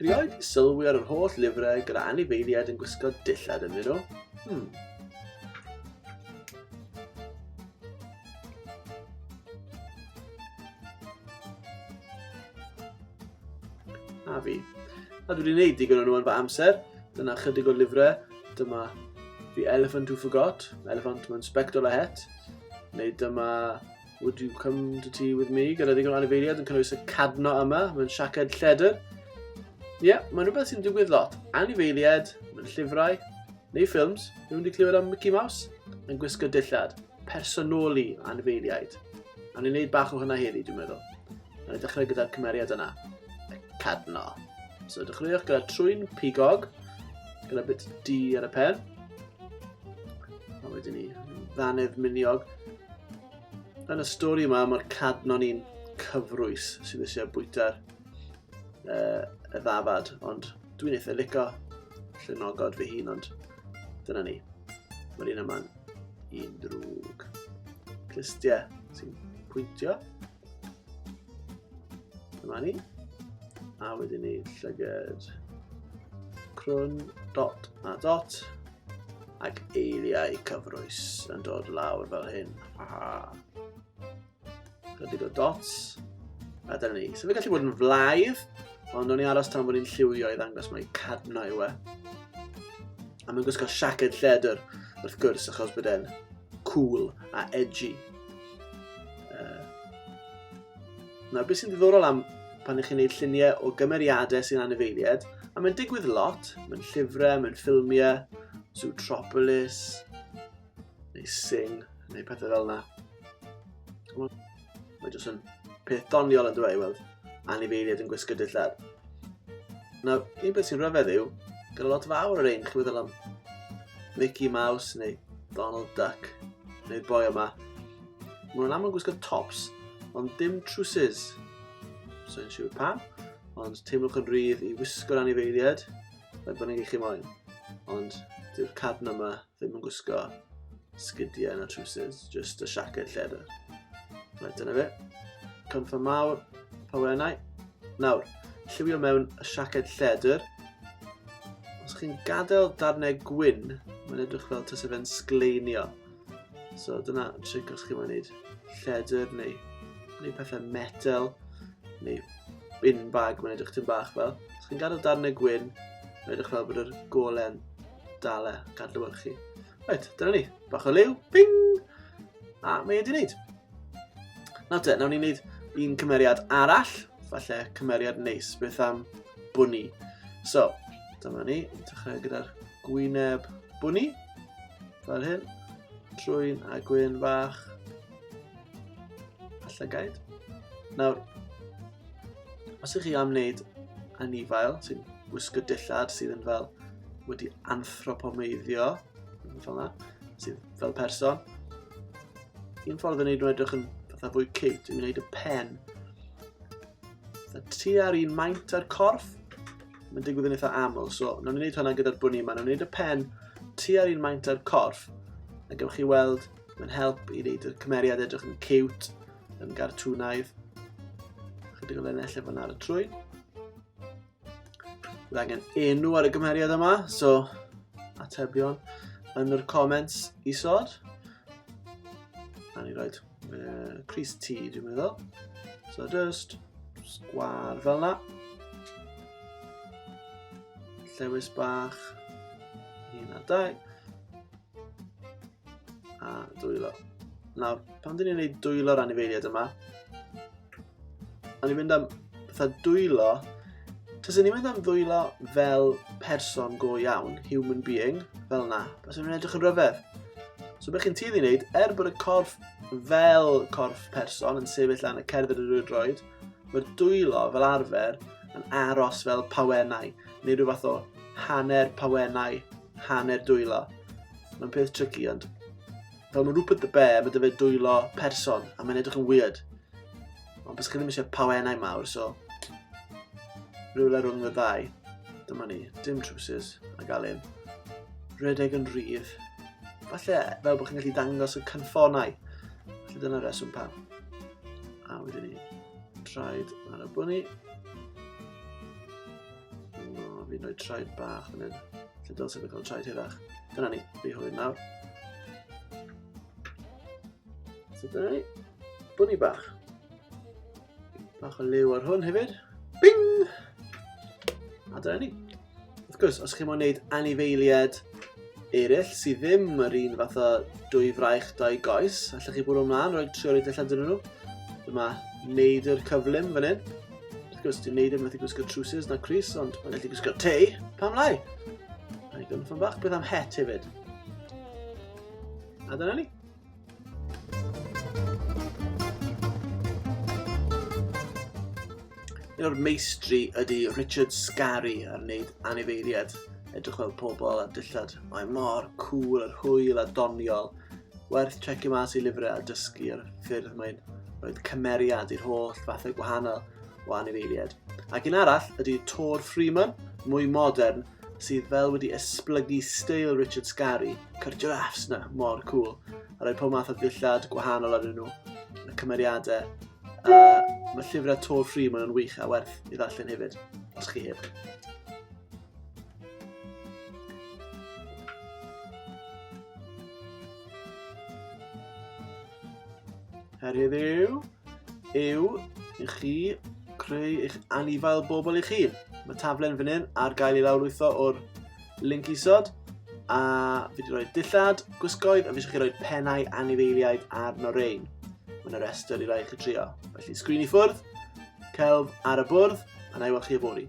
Rioed sylwi ar yr holl lyfrau gyda anifeiliaid yn gwisgo dillad ynddyn nhw. Hmm. A fi. A dwi wedi gwneud digon o'n nhw yn fy amser. Dyna chydig o'r lyfrau. Dyma The Elephant Who Forgot, Elephant mewn Spectol a Het. Neu dyma Would you come to tea with me? Gyda ddigon anifeiliad yn cynnwys y cadno yma, mae'n siaced lledr. Ie, yeah, mae'n rhywbeth sy'n digwydd lot. Anifeiliad, mae'n llyfrau, neu ffilms, rhywun wedi clywed am Mickey Mouse, yn gwisgo dillad, personoli anifeiliaid. A ni'n gwneud bach o hynna heddi, dwi'n meddwl. A ni'n dechrau gyda'r cymeriad yna, y cadno. So dechreuwch gyda trwy'n pigog, gyda bit D ar y pen. A wedyn ni, ddannedd miniog. Yn y stori yma, mae'r cadnon i'n cyfrwys sy'n eisiau bwyta'r uh, y ddafad, ond dwi'n eitha lico llunogod fy hun, ond dyna ni. Mae'r un yma'n un drwg. Clustiau sy'n pwyntio. Dyma ni. A wedyn ni llyged crwn, dot a dot. Ac eiliau cyfrwys yn dod lawr fel hyn. Aha. Chydig o dots. A dyna ni. So fe gallu bod yn flaidd, ond o'n i aros tan bod ni'n lliwio i ddangos mae cadno yw e. A mae'n gwisgo siaced lledr, wrth gwrs, achos bod e'n cool a edgy. Uh, nawr, beth sy'n ddiddorol am pan ych chi'n gwneud lluniau o gymeriadau sy'n anifeiliaid, a mae'n digwydd lot, mae'n llyfrau, mae'n ffilmiau, Zootropolis, neu Sing, neu pethau fel yna. Mae jyst yn peth doniol yn dweud, weld. anifeiliaid yn gwisgo dillad. Nawr, un beth sy'n rhyfedd yw, gyda lot fawr o'r ein chi'n meddwl am Mickey Mouse neu Donald Duck neu'r boi yma. Mae nhw'n aml gwisgo tops, ond dim trwsus. So yn siŵr pam, ond teimlwch yn rhydd i wisgo'r anifeiliad, fe bod ni'n eich moyn. Ond dyw'r cadn yma Ddim yn gwisgo sgidiau na trwsus, just y siaced lleder. Right, dyna fe. Cynffo mawr, pawenau. Nawr, lliwio mewn y siaced lleder. Os chi'n gadael darnau gwyn, mae'n edrych fel tas efen sgleinio. So dyna tric os chi'n mynd lleder neu, neu pethau metal neu bin bag, mae'n edrych tyn bach fel. Os chi'n gadael darnau gwyn, mae'n edrych fel bod yr golen Dal e, gadw yn chi. Reit, dyna ni. Bach o liw, ping! A mae wedi wneud. Nawr te, nawn ni wneud un cymeriad arall. Falle cymeriad neis, beth am bwni. So, dyma ni, dechrau gyda'r gwyneb bwni. Fel hyn. Trwy'n a gwyn fach. Alla gaid. Nawr, Os ydych chi am wneud anifail sy'n gwisgo dillad sydd yn fel wedi anthropomeiddio, fel yna, sydd fel person, un ffordd o wneud nhw edrych yn fatha fwy cute yw wneud y pen fatha tu ar un maint ar corff. Mae'n digwydd yn eitha aml, so nawn ni wneud hwnna gyda'r bwni yma. Nawn ni wneud y pen tu ar un maint ar corff, a gewch chi weld mae'n help i wneud y cymeriad edrych yn cute, yn gartwnaidd. Chydig o lenell efo ar y trwy. Bydd angen enw ar y gymeriad yma, so atebion yn yr comments isod. A ni roed uh, Chris T, dwi'n meddwl. So just sgwar fel yna. Llewis bach. Un a dau. A dwylo. Nawr, pan dyn ni'n gwneud dwylo'r anifeiliad yma, o'n i'n mynd am fatha dwylo, taswn i'n mynd am ddwylo fel person go iawn, human being, fel na, taswn i'n edrych yn rhyfedd. So beth chi'n tueddu i wneud, er bod y corff fel corff person yn sefyll lan y cerdded yr droed, mae'r dwylo fel arfer yn aros fel pawennau, neu rhyw fath o hanner pawennau, hanner dwylo. Mae'n peth tricky, ond... Fel mae Rupert the Bear, mae dyfod dwylo person, a mae'n edrych yn weird. Ond bys chi ddim eisiau pawenau mawr, so... Rhywle rhwng y ddau. Dyma ni, dim trwsus, a gael un. Rhedeg yn rhydd. Falle, fel bod chi'n gallu dangos y cynffonau. Felly dyna reswm pam. A wedyn ni, traed ar y bwni. O, fi'n rhoi traed bach yn hyn. Lle dylse fe cael traed hirach. Dyna ni, fi hwyr nawr. So dyna ni, bwni bach. Bach o liw ar hwn hefyd. Bing! A dyna ni. Wrth gwrs, os chi'n mwyn gwneud anifeiliad eraill sydd ddim yr un fath o dwy fraich dau goes, allwch chi bwrw ymlaen, rhoi tri o'r edrych allan dyn nhw. Dyma neud yr cyflym fan hyn. Wrth gwrs, ti'n neud e, mae'n gallu gwisgo trwsus na Chris, ond mae'n gallu gwisgo te. Pam lai? Rhaid i gynffon bach, beth am het hefyd? A dyna ni. Un o'r meistri ydy Richard Scarry ar wneud anifeiliad. Edrych fel pobl a dillad. Mae mor cool, yr hwyl a doniol. Werth checio mas i lyfrau a dysgu ar ffyrdd mae'n roed cymeriad i'r holl fathau gwahanol o anifeiliaid. Ac un arall ydy Tor Freeman, mwy modern, sydd fel wedi esblygu steil Richard Scarry, cyr giraffes na, mor cool, a rhoi pob math o ddillad gwahanol arnyn nhw, y cymeriadau. Uh, mae llyfrau Tor Freeman yn wych a werth i ddarllen hefyd, os chi heb. Her heddiw yw i chi creu eich anifail bobl i chi. Mae taflen fan hyn ar gael ei lawrlwytho o'r link isod a fi wedi rhoi dillad, gwisgoedd a fi eisiau chi roi pennau anifeiliaid arno rein. Mae yna restr i rai chi trio. Felly sgrin i ffwrdd, celf ar y bwrdd a na i weld chi yfory.